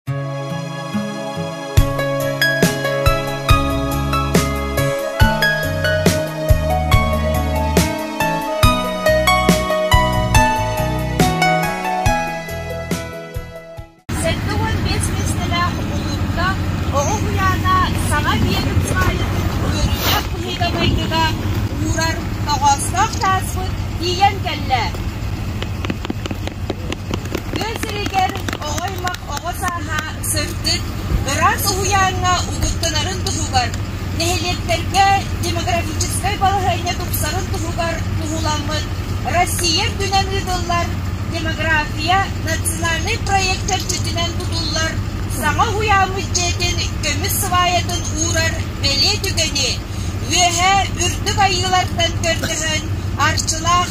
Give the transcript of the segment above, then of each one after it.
Сэттэ уон биэс миэстэлээх улууска Оҕо уһуйаана саҥа биэрим хаайытын үөрүүлэх быһыыга-майгыга уурар тоҕоостоох сааспыт тиийэн кэллэ. Тыа сиригэр оҕо-аймах оҕо сааһа сырдык, ыраас уһуйааҥҥа угуттанарын туһугар, нэһилиэктэргэ демографическай балаһыанньа тупсарын туһугар туһуламмыт Россия үрдүнэн ыытыллар Демография национальнай проект сөргүтүнэн тутуллар саҥа уһуйааммыт дьиэтин көмүс сыбаайатын уурар бэлиэ түгэни, Үөһээ Үрдүк Айыылартан көрдөһөн, Арчылаах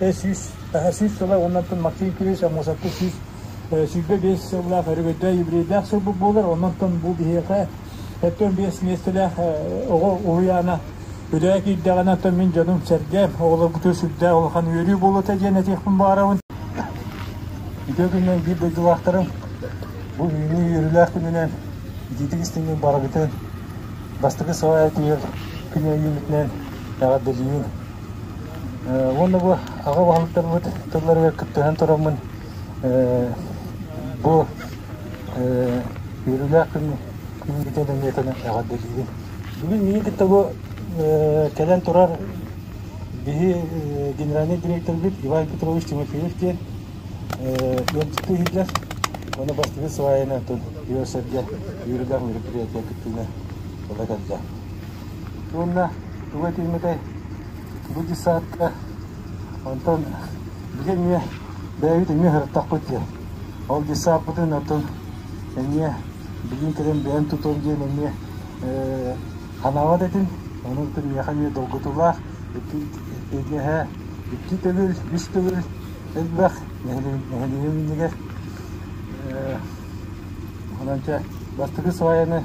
сүүс, сүүс сыла уонна Максим Кириллович Аммосовка сүүс сүүрбэ биэс сыллаах өрөгөйдөөх еврейдээх сылбыт буолар. Оннуттан бу биһиэхэ оттон биэс миэстэлээх оҕо уһуйаана үлэҕэ киирдэҕинэ оттон мин дьонум сэргэм оҕолоргутугар сүрдээх улахан үөрүү буолуота диэн этиэхпин баҕарабын. Үтүө күнүнэн биир дойдулаахтарым бу үүнүү үөрүүлээх күнүнэн итиитик истиҥҥин барыгытын бастакы саҕа этиэр күн өйүүмүтүнэн эҕэрдэлиибин. Ээ уонна бу аҕа уһалтарбыт тылларыгар кыттыһан тураммын ээ бу ээ үөрүүлээх күн күҥҥүтэ нөҥүөтэнэн эҕэрдэлиибин. Бүгүн миигин кытта бу ээ кэлэн турар биһи ээ генеральнай дириэктэрбит Иван Петрович Тимофеев диэн ээ ыалдьыттыы иһиллэр уонна бастакы сваянан тыл үөр-сэргэ үөрүүлээх мероприятия кыттыыны ыла кэллэ. Уонна тугу этиммитэй, бу детсадка, онтон били эмиэ бэйэбит эмиэ сырыттахпыт диэн, ол детсадпытын оттон эмиэ билиин кэлэн бэйэм тутуом диэн эмиэ ээ санаабат этим, ону оттон миэхэ эмиэ долгутуулаах икки иэдэһэ икки төгүл, үс төгүл элбэх нэһилиэгим иннигэр ээ онон чэ бастакы сваяны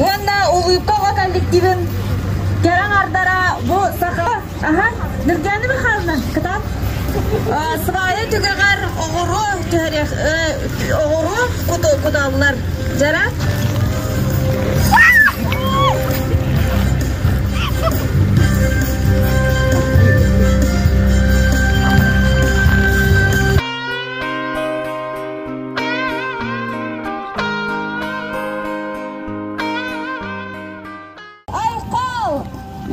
уонна улыбка оҕо коллективын кэрэ аҥардара бу саха аһа Нургана Михайловна кытаат свая түгэҕэр оҕуру түһэриэх оҕуру куталлар дьара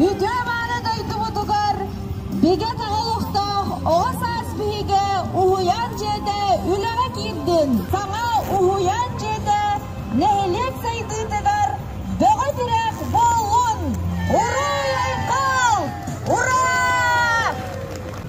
Үтүө-мааны дойдубутугар бигэ оҕолохтоох оҕо саас биһигэ уһуйаан дьиэтэ үлэҕэ киирдин! Саҥа уһуйаан дьиэтэ нэһилиэк сайдыытыгар бөҕө тирэх буоллун! Уруй-айхал! Ура!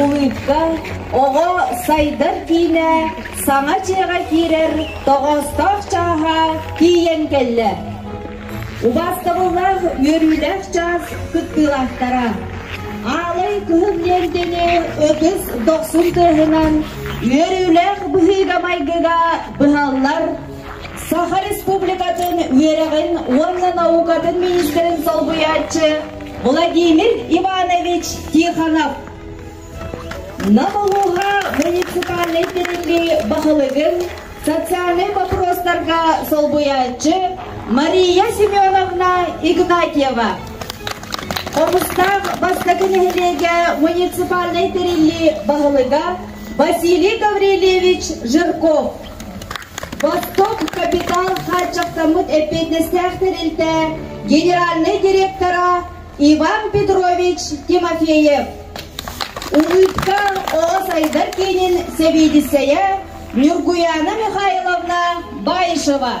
Улыыкка оҕо сайдар киинэ саҥа дьиэҕэ киирэр тоҕоостоох чааһа тиийэн кэллэ. Убаастабыллаах үөрүүлээх чаас кыттыылаахтара Аалай Кыһыл Лиэндэни ытыс дохсун тыаһынан үөрүүлээх быһыыга-майгыга быһаллар Саха Республикатын үөрэҕин уонна наукатын министрин солбуйааччы Владимир Иванович Тихонов Нам улууһа муниципальнай тэриллии баһылыгын социальнай боппуруостарга солбуйааччы Мария Семеновна Игнатьева Омуктаах бастакы нэһилиэгэ муниципальнай тэриллии баһылыга Василий Гаврильевич Жирков Восток капитал хааччахтаммыт эппиэтинэстээхтэр илтэ генеральнай директора Иван Петрович Тимофеев. Улыбка ол сайдар киинин сэбиэдиссэйэ Ньургуяна Михайловна Баишева.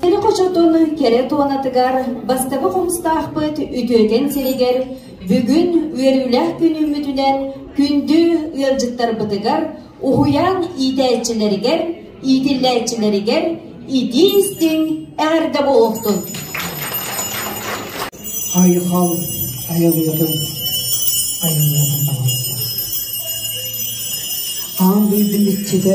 Төлөп очотун кэрэ туонатыгар бастакы хомустаахпыт үтүөкэн сиригэр бүгүн үөрүүлээх күнүммүтүнэн күндү ыалдьыттарбытыгар, уһуйаан иитээччилэригэр, иитиллээччилэригэр итии-истиҥ эҕэрдэ буолуохтун! Айхал айылыатын айылыатын таҕыста. Аан дойду иччитэ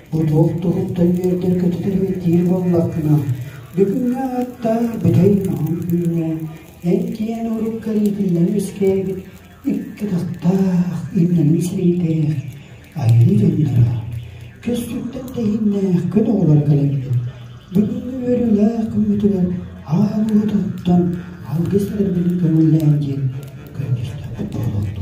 Одуол туһук тойүөрдэр көтүтүрүөтиир буоллаххына, бүгүҥҥэ ааттаах бүтэй маһын үүнэ, эн киэн урут көрүүтүнэн үскээбит икки атахтаах имнэнин сирийтэр айыыр өннөрө. Көстүктэн тэһиннээх көн оҕолоро кэлэллэр. Бүгүҥҥү үөрүүлээх күммүтүгэр аа буутуттан алгыс эрбини көҥүллээн диэн көрдөрдө болотто.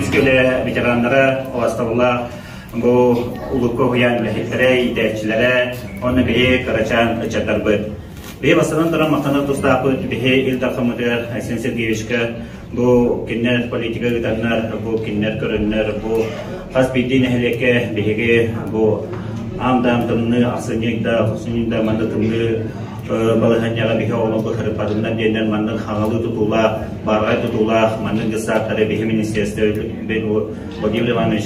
Үскөлө ветераннара, оҕастабыла бу улукка уһуйаан үлэһиттэрэ, иитээччилэрэ, онно биһи кырачаан ыччаттарбыт. Биһи бастаран туран махтанар тустаахпыт биһи Ил Дархан Мытыар Айсен Сергеевичка Бу кинилэр политика ыытаннар, бу кинилэр көрөннөр, бу хас биирдии нэһилиэккэ биһиги бу аам даам тымныы, ахсынньык да, ахсынньык да манна тымныы балаһанньаҕа биһи оҕону быһарыпатыннар диэннэр маннын хаҥалыы тутуулаах, бааргай тутуулаах маннын дьыссааттары биһи министерство Владимир Иванович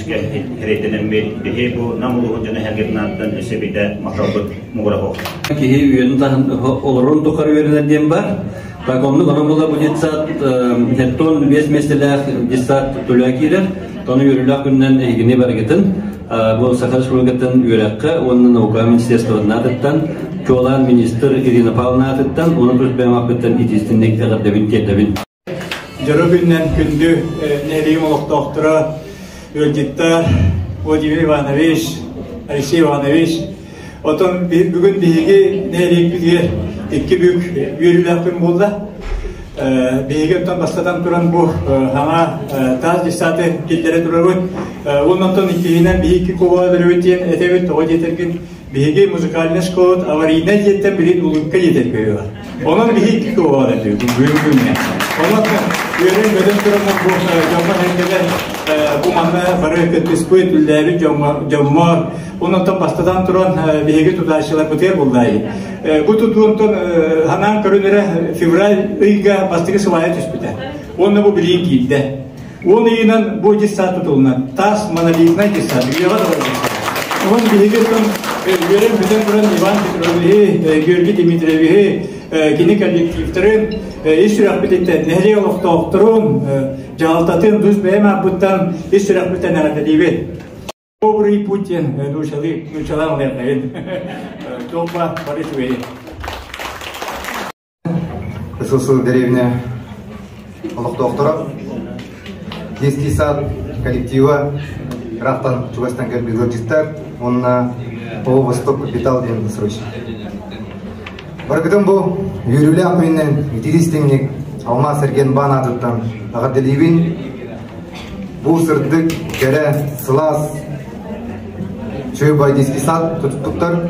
кэриэтэнэн биһи бу Нам улууһун дьоно эргитинаттан өссө бидэ махалбыт муҕурабыт. Киһи үөнү таһын олорон тухары үөрэнэр диэн бар. Так оннук ону була бу детсад хеттон биэс местелээх детсад тула киирэр. Тону үөрүлээх күннэн эһигини баргытын бу Саха Республикатын үөрэххэ уонна наука министерствотнаатыттан Чуолаан министр Ирина Павловнаатыттан оны көрсбээмаппыттан итистинник эҕэрдэбин тиэрдэбин. Дьоро күннэн күндү нерим олохтоохтура Өлдитта Владимир Иванович, Алексей Иванович Отон бүгүн биһиги нэһилиэкпитигэр икки бүк үөрүүлээхпин буолла. Биһиги оттон бастатан туран бу хаҥа таас десаты киллэрэ турабыт. Оннотон иккиһинэн биһиги кубаҕа дөрөвүтиэн этэбит тоҕо диэтэргин биһиги музыкальный школа аварийнай диэттэн билин улуукка диэтэрбиһиға. Онон биһикки куоҕан этибит бүгүн күнэ. Онон үөрэн-бөтөн туран дьоҥҥо эндэлэр бу манна бары кыттыспыт үллээбит дьоммо Оннотон бастатан туран биһиги тутаачыларбытыгар буллай. Бу тутуунтан ханаан көрүнэрэ февраль ыйга бастыгы сылайа түспүтэ. Онно бу билиин киирдэ. Ол иһинэн бу десант тутулунан таас монолитнай десант үйэҕэ Онон биһиги тон үөрэн бүтэн туран Иван Петровиһи, Георгий Дмитриевиһи, кини коллективтарын, ис сүрэхпититтэн нэһилиэк олохтоохторун, дьаһалтатын бус бэйэм аппыттан ис сүрэхпиттэн эрэпэтиибит. Добрый Путин нучалый, нучалам Верховин. Добба Борисович. СССР дэриэбинэ олохтоохторо детский сад коллектива ыраахтан чугастан кэлбит ыалдьыттар уонна Ово Восток капитал диэн досрочник. Барыкытын бу үөрүүлээх күнүнэн итиистиҥник Алмаас Эрген Баан аатыттан аҕардэлиибин. Бу сырдык, кэрэ, сылаас чөй бай детский сад тутуттуктар.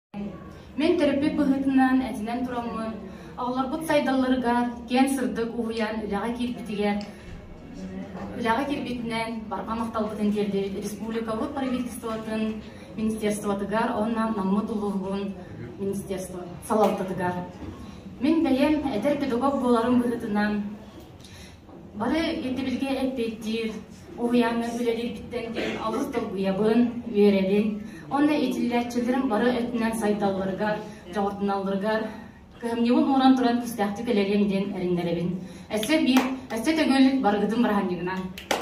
Мин төрөппүт быһыытынан этинэн тураммыт, оҕолорбут сайдалларыгар киэн сырдык уһуйан үлэҕэ киирбитигэр үлэҕэ киирбитинэн барҕа махталбытын тиэрдибит республикабыт правительствотын министерствотыгар уонна Наммыт улууһун министерство салалтатыгар. Мин бэйэм этэр педагог буоларым быһыытынан Бары ирдэбилгэ эппиэттиир уһуйааҥҥа үлэлииргиттэн диэн олус долгуйабын, үөрэбин. Онно итиллээччилэрим бары өттүнэн сайдалларыгар, дьоҕурданалларыгар кыһамньыбын ууран туран күүстээхтик үлэлиэм диэн эрэннэрэбин. Өссө биир, өссө төгүл барыгытын быраһынньыгынан.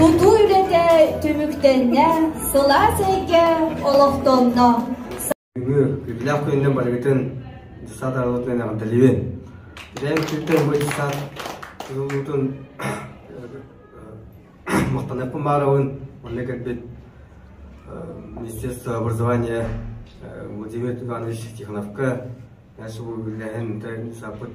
Тутуу үлэтэ түмүктэннэ, сылаас эйгэ олохтонно. Бүгү күннээх күнүнэн барыгытын десантаҕытын эҕэрдэлиибин. Бэйэҥ сиртэн бу десант тутулуутун махтанаппын баарабын уонна кэлбит Министерство образования Владимир Иванович Тихоновка Мәсі бұл білдәһін саппыт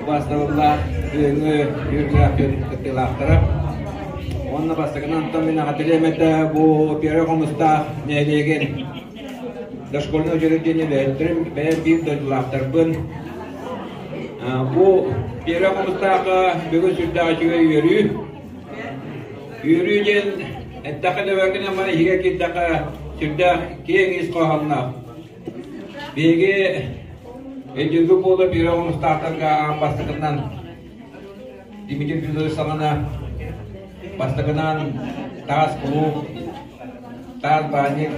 Кылаас табыллаах кыһыҥҥы үөрүүлээх дьон кыттыылаахтара. Уонна бастакынан Антон Минахателемета бу первый хомустаах нэһилиэгин дошкольнай училище диэн үлэһиттэрин бэйэм биир дойдулаахтарбын бу первый хомустаахха бүгүн сүрдээх үчүгэй үөрүү үөрүү диэн эттэххэ нөбөргүнэн бары иһигэ киирдэххэ сүрдээх киэҥ ис хоһоонноох Биһиги өйдүргү буола биир оҕонустаахтарга аан бастакынан Дмитрий Федорович саҕана бастакынан таас кулууп, таас баанньык,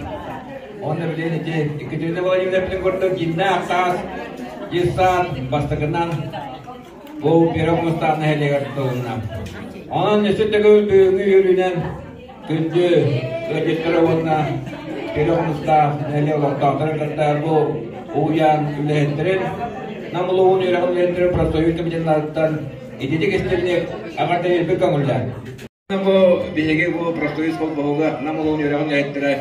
онно билин ити Екатерина Владимировна курдук дьиҥнээх таас дьиссаат бастакынан Бу Первый Мустаф нэһилиэгэр тутулунна. Онон үсүн төгүл бүгүҥҥү үөрүүнэн күндү ыалдьыттары уонна Первый Мустаф нэһилиэк олохтоохторун кытта бу уһуйаан үлэһиттэрин Нам улууһун үөрэҕин үлэһиттэрин профсоюз кабинеттарыттан ититик истинник аҕата ирбит көҥүллээн Бу биһиги бу профсоюз холбоһуга Нам улуун үөрэҕин үлэһиттэрэ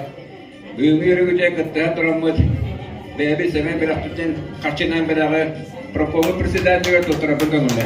бүгүҥҥү үөрүүгүтэ кыттыһан тураммыт бэйэбит Сэмэн бэлэхтиттэн харчынан бэлэҕи прокурор председателигэр туттарабын тонуна.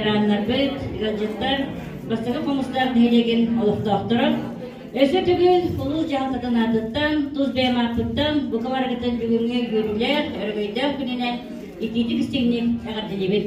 Ираннарбыт, ыалдьыттар бастакы хомустаах нэһилиэгин олохтоохторо Өссө төгүл улуус дьаһалтатын аатыттан, тус бэйэм ааппыттан бука барыгытын бүгүҥҥү күөрүүлээх, өрөгөйдөөх күнүнэн итиитик-истиҥник эҕэрдэлиибит!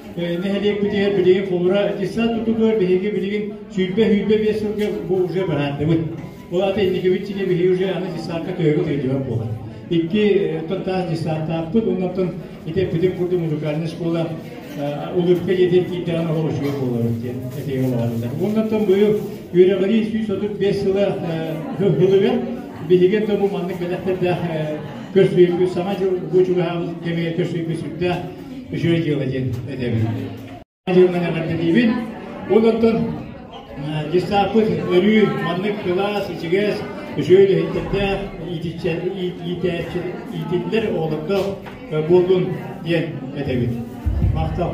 нэһилиэкпитигэр билигин холура аттестат тутугар биһиги билигин сүүрбэ-сүүрбэ биэс сылга бу уже быһаардыбыт. Ол аты инникибит сигэ биһиги уже аны аттестатка төһөгө төлөдүбэт буолар. Икки оттон таас аттестаттаахпыт, оннуктан итеппитин курдук музыкальная школа улыбка диэтин киирдэҕин оһол үчүгэй буолар диэн этиэгэ баҕарылар. Оннуктан быйыл үөрэҕирии сүүс отут биэс сыла хылыган биһиги да бу маннык бэлэхтэрдээх көрсүйбү саҥа дьыл бу чугаһаабыт кэмигэр көрсүйбү сүрдээх үчүгэй дьыала диэн этэбин. Дьыаланы эҕэрдэлиибин. Ол оттон гестаппыт өрүү маннык кылаас, ичигэс, үчүгэй үлэһиттэрдээх иитиллэр оҕолорго буоллун диэн этэбин. Махтал.